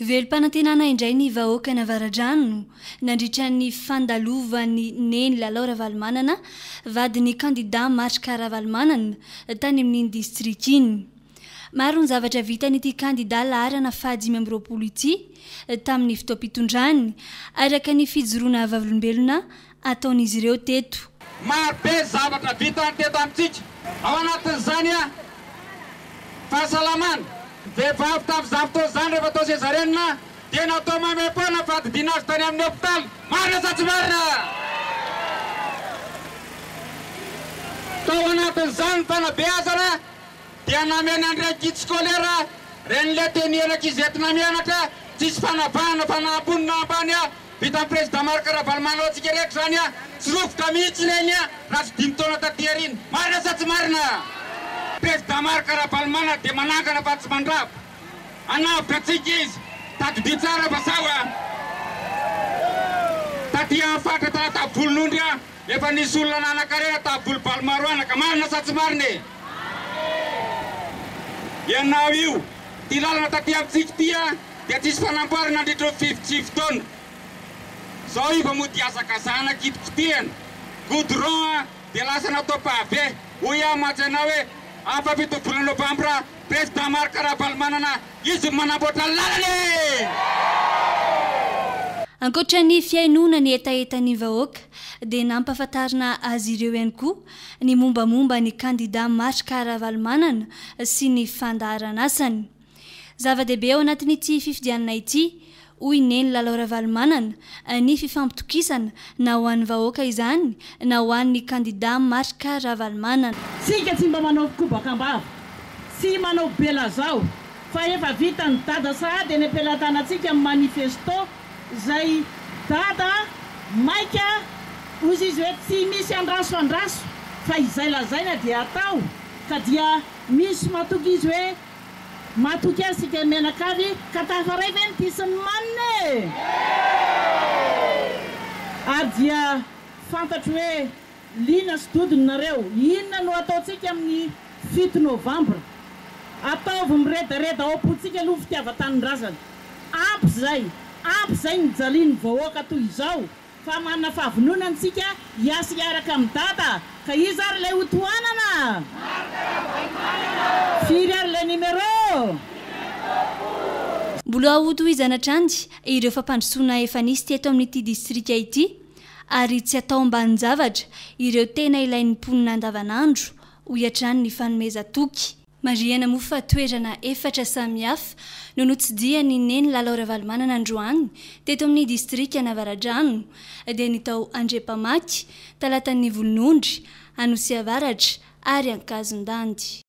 Velom-panantenana indray ny vahoakan'Avaradrano nandritra ny fandalovan'i Neny Lalao Ravalomanana, vadin'ny kandidà Marc Ravalomanana, tany amin'iny distrika iny. Maro ny zavatra vitan'ity kandidà laharana fahadimy amby roapolo ity tamin'ny fotoam-pitondrany, araka ny fijoroana vavolombelona ataon'izy ireo teto. Maro be ny zavatra vitany teto amintsika. Ao anatin'izany an, fahasalamana. Ny vehivavy tamin'izany fotoana izany rehefa atao sezarianina dia natao maimaim-poana ny fandidiana azy tany amin'ny hopitaly. Marina sa tsy marina? Tao anatin'izany ny fanabeazana. dia nameno an'ireny kit scolaire reny le teny ianaka izy entina mianatra tsisy fanavahana fa na ambony na ambany a vitan'i président Marc Ravalomanana antsika rehetra izany a tsy rovoka mihitsy ireny a raha tsy dimy taona taty aoriana. Marina sa tsy marina? Président Marc Ravalomanana dia manangana fa tsy mandrava. Hanavotra antsika izy. Tadidio tsara fa sao a. Taty amin'ny faritra Talatavolonondry a. Efa nisy olona nanan-karena tamin'ny volom-balo maro anaka, marina sa tsy marina e? Marina! Ianao io, ity lalana taty amintsika ity a, dia tsisy fanamboarana nandritra ny fivy sivy taona. Izao io vao mody hazakazahana kitikitihana, goudron a, dia lasa natao pavé. Hoy aho mantsy anao hoe, amin'ny fahafito ny volana novambra, Président Marc Ravalomanana, Izy no manamboatra ny lalana e! Ankoatra ny fihainoana ny hetahetan'ny vahoaka dia nampahafantarina azy ireo ihany koa ny mombamomba ny kandida Marc Ravalomanana sy ny fandaharanasany. Zava-dehibe ao anatin'ity fifidianana ity hoy i Neny Lalao Ravalomanana, ny fifampitokisana na ho an'ny vahoaka izany na ho an'ny kandidà Marc Ravalomanana. Tsika tsy mba manao kobaka am-bava sy manao belazao fa efa vitan'i Dada sahady eny am-pelatanantsika amin'ny manifesto izay Dada maika hozy izy hoe tsy misy andraso andraso fa izay lazaina dia atao ka dia misy matoky izy hoe Matoky azy sika mianakavy ka tafaray ve ny piso ny manina e! Ary dia fantatro hoe liana sy dodony nareo. Inona no ataontsika amin'ny fito novambra? Ataovy miredareda ao am-pontsika aloha ny fitiavan-tanindrazana. Ampy izay, ampy izay nijalian'ny vahoaka toy izao Fa manana fahavononana isika hiasa hiaraka amin'i Dada ka iza ary ilay ho tohanana? Marc Ravalomanana ô! Firy ary ilay numéro? Numéro folo. Mbola ho tohizana hatrany ireo fampandrosoana efa nisy teto amin'ity distrika ity ary tsy atao ambanin-javatra ireo tena ilain'ny mponina andavanandro, hoy hatrany ny fanomezan-toky. Marihana moa fa toerana efatra samihafa no notsidihan'i Neny Lalao Ravalomanana androany teto amin'ny distrikan'Avaradrano dia ny tao Andriampamaky, Talatan'ny Volonondry, Anosiavaratra ary Ankazondandy.